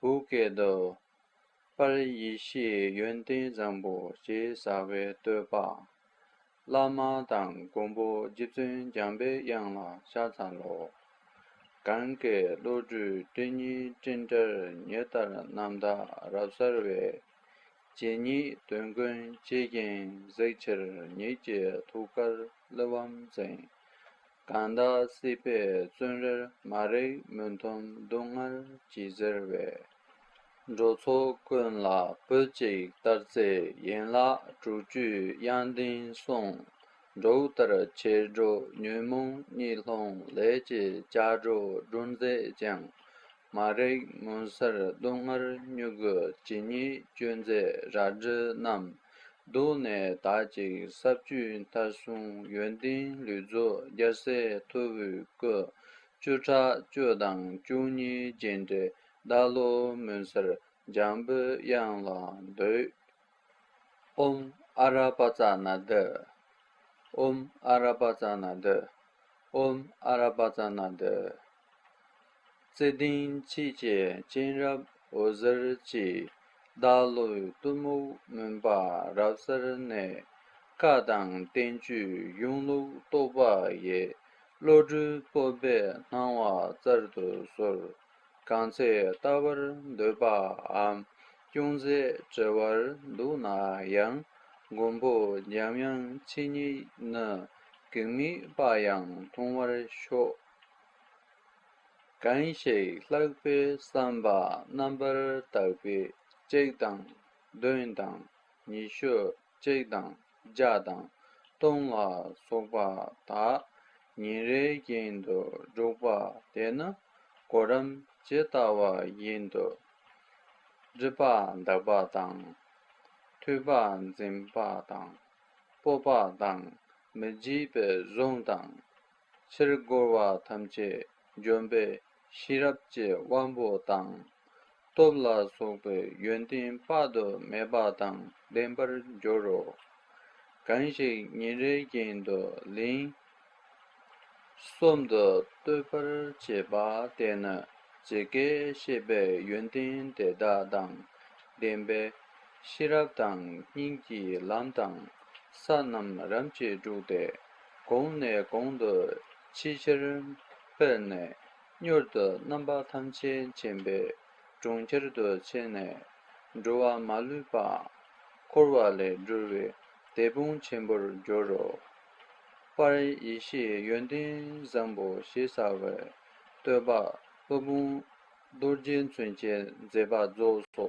བུ་སྐད་དུ། པར་ཡེ་ཤེས་ཡོན་ཏན་བཟང་པོ་ཞེས་བྱ་བའི་བསྟོད་པ། བླ་མ་དང་མགོན་པོ་རྗེ་བཙུན་འཇམ་པའི་དབྱངས་ལ་ཤ་ཚ་ལོ། གང་གཱའི་བློ་གྲོས་སྤྲིན་གཉིས་སྤྲིན་དཀར་ཉི་ལྟར་རྣམ་དག་རབ་གསལ་བའི། རྗེ་ཉིད་དོན་ཀུན་བྱེད་རྒྱན་གཟིགས་ཆེར་ཉིད་ཀྱི་ཐུགས་ཀར་གླུ་བམ་ཟིན། གང་དག་སྲིད་པའི་བཙོན་རར་མ་རེག་མུན་དུམ་སྡུག་བསྔལ་གྱིས་གཟིར་བས། འགྲོ་ཚོགས་ཀུན་ལ་བུ་གཅིག་ལྟར་བརྩེ་ཡན་ལག་དྲུག་བཅུའི་དབྱངས་ལྡན་གསུང། འབྲུག་ལྟར་བྱེར་སྒྲོག་ཉོན་མོངས་གཉིད་ལྷུང་ལས་ཀྱི་ལྕགས་སྒྲོག་སྒྲོན་མཛད་ཅིང། མ་རེག་མུན་སེལ་སྡུག་བསྔལ་མྱུ་གུ་ཇི་སྙེད་སྤྱོད་མཛད་རལ་གྲི་བསྣམས། འདུག་ནས་དག་ཅིག་ས་བཅུའི་མཐའ་སྲུང་ཡོན་ཏན་ལུས་རྫོགས་རྒྱལ་སྲས་མཐུ་བོའི་སྐུ། བཅུ་ཕྲག་བཅུ་དང་བཅུ་གཉིས་རྗེས་འབྲེལ་བདག་བློ་མུན་སེལ་འཇམ་པོའི་དབྱངས་ལ་འདུད། ཨུམ་ཨ་ར་པ་ཙ་ན་དི། ཨུམ་ཨ་ར་པ་ཙ་ན་དི། ཨུམ་ཨ་ར་པ་ཙ་ན་དི། བརྩེ་ལྡན་ཆོས་རྒྱལ་སྤྱན་རབ་འོད་ཟེར་གྱིས་བདག་བློའི་གཏི་མུག་མུན་པ་རབ་གསལ་ནས། བཀའ་དང་བསྟན་བཅོས་གཞུང་ལུགས་རྟོགས་པ་ཡི། བློ་གྲོས་སྤོབས་པས་སྣང་བ་རྩལ་དུ་གསོལ། གང་ཚེ་ལྟ་བར་འདོད་པའམ། ཅུང་ཟད་བྲེལ་བར་འདུག་ན་ཡང་མགོན་པོ་འཇམ་དབྱངས་ཆོས་ཉིད་ནི་གེགས་མི་སྤ་ཡང་ཐུང་བར་ཤོག། གང་ཞིག་ལྷག་པའི་བསམ་པ་རྣམ་པར་དག་པས་གཅིག་དང་བདུན་དང་ཉི་ཤུ་གཅིག་དང་ལྗགས་དང། སྟོང་ལ་སོགས་པ་དག། ཉིན་རེའི་རྐྱེན་དུ་འཇུག་པ་དེས་ན། གོ་རམ་ཇི་ལྟ་བ་བཞིན་དུ། སྒྲིབ་པ་འདག་པ་དང། འཐུལ་པ་འཛིན་པ་དང། སྤོབས་པ་དང་མི་བརྗེད་པའི་གཟུངས་དང། ཕྱིར་རྒོལ་བ་ཐམས་ཅད་འཇོམས་པའི་ཤེས་རབ་ཀྱི་དབང་པོ་དང། སྟོབས་ལ་སོགས་པའི་ཡོན་ཏན་དཔག་ཏུ་མེད་པ་དང་ལྡན་པར་འགྱུར་རོ། གང་ཞིག་ཉིན་རེའི་རྒྱན་དུ་ལན་གསུམ་དུ་བསྟོད་པར་བྱེད་པ་དེ་ནི་ཇི་སྐད་བཤད་པའི་ཡོན་ཏན་དེ་དག་དང་ལྡན་པའི་ཤེས་རབ་དང་གཉིས་ཀྱི་ལམ་དང་ས་རྣམས་རབ་ཅེས་དྲུག་སྟེ། གོང་ནས་གོང་དུ་ཆེས་ཆེར་འཕེལ་ནས་མྱུར་དུ་རྣམ་པ་ཐམས་ཅད་མཁྱེན་པའི་གྲོང་ཁྱེར་དུ་ཆས་ནས་འགྲོ་བ་མ་ལུས་པ་འཁོར་བ་ལས་སྒྲོལ་བའི་དད་དཔུང་ཆེན་པོར་འགྱུར་རོ། པར་ཡེ་ཤེས་ཡོན་ཏན་བཟང་པོ་ཞེས་བྱ་བའི་བསྟོད་པ་སློབ་དཔོན་རྡོ་རྗེ་མཚོན་ཆའི་མཛད་པ་རྫོགས་སོ།